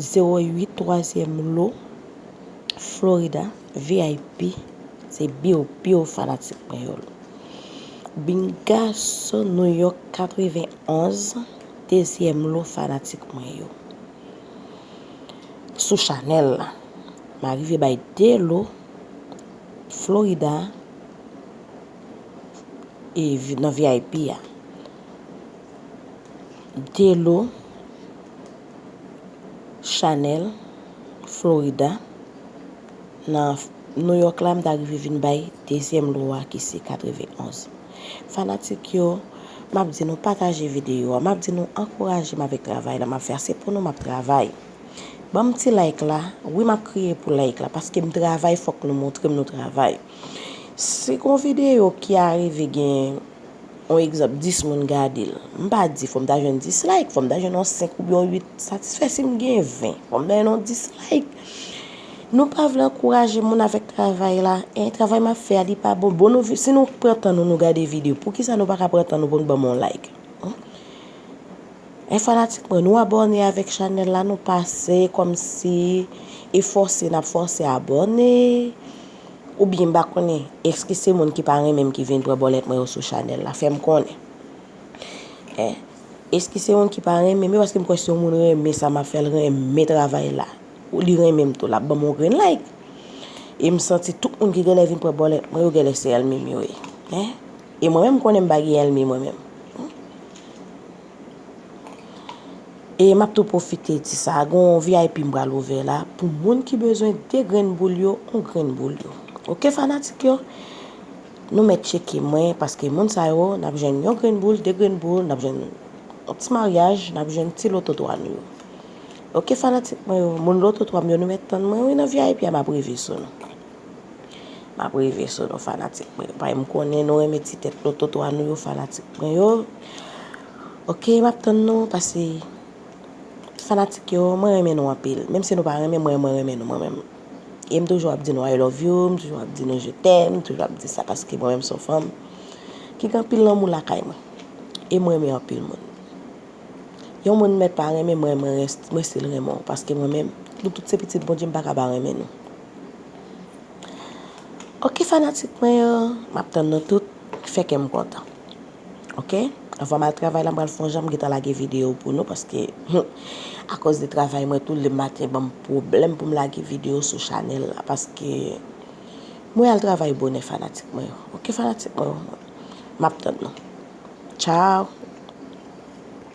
08 twazyèm lo Florida vip se biw biw fanatik mwen yo byn gason nouyòk 91 dezyèm lo fanatik mwen yo sou chanèl la m arive bay 2 lo Florida nan vip a. Delo Chanel, Florida, nan New York la m ta rive vin bay dezyèm lo a ki se 91. Fanatik yo, m ap di nou pataje videyo a, m ap di nou ankouraje m avèk travay la m ap fè a, se pou nou m ap travay. Banm ti like la, wi m ap kriye pou like la paske m travay fòk nou montre m nou travay. Se yon videyo ki arive gen. On egzanp 10 moun gadel. M pa di fòm ta jwenn 10 like, fòm ta jwenn on 5 oubyen on 8 satisfè sim gen 20 fòm ta jwenn on 10 like. Nou pa vle ankouraje moun avèk travay la, en travay map fè a li pa bon, bon nou si nou pran tan nou nou gade video poukisa nou paka pran tan nou poun banm on like. En fanatik mwen nou abòne avèk chanèl la nou pase kòmsi e fòse nap fòse abòne. Ou byen m pa konnen eske se moun ki pa renmen m ki vin pran bòlèt mwen yo sou chanèl la fè m konnen eh eske se moun ki pa renmen m yo paske m kwè si yon moun renmen sa m ap fè l renmen travay la ou li renmen m tou l ap ban m yon grenn like e m santi tout moun ki genlè vin pran bòlèt mwen yo genlè se èlmi m yo ye eh e mwen menm m konnen m pa gen èlmi mwen menm. E map tou pwofite di sa, gen yon vip m pral ouvè la pou moun ki bezwen 2 grenn boul yo, yon grenn boul yo. Ok fanatik yo, nou mèt tcheke mwen paske moun sa yo nap jwenn yon grenn boul, 2 grenn boul, nap jwenn yon ti maryaj, nap jwenn ti loto 3 nou yo. Ok fanatik mwen yo, moun loto 3 m yo nou mèt tann mwen wi nan vip a map rive sou nou. Map rive sou nou fanatik mwen yo pae m konnen nou renmen ti tèt lototo a nou yo fanatik mwen yo ok map tann nou pase fanatik yo mwen renmen nou anpil menm si nou pa renmen mwen mwen renmen nou mwen menm e m toujou ap di nou I love you m toujou ap di nou je t'aime m toujou ap di sa paske mwen menm son fanm ki gen anpil lanmou lakay mwen e m renmen anpil moun yon moun mèt pa renmen mwen mwen rès mwen stil renmen w paske mwen menm nou tout se pitit Bondye m paka pa renmen nou. Ok fanatik mwen yo, map tann nou tout, ki fè kèm kontan. Ok, anvan mal travay la m pral fon jan m gentan lage video pou nou paske humm akoz de travay mwen tou le maten banm pwoblèm pou m lage video sou chanèl la paske mwen al travay bonè fanatik mwen yo. Ok fanatik mwen yo, map tann nou. Ciao.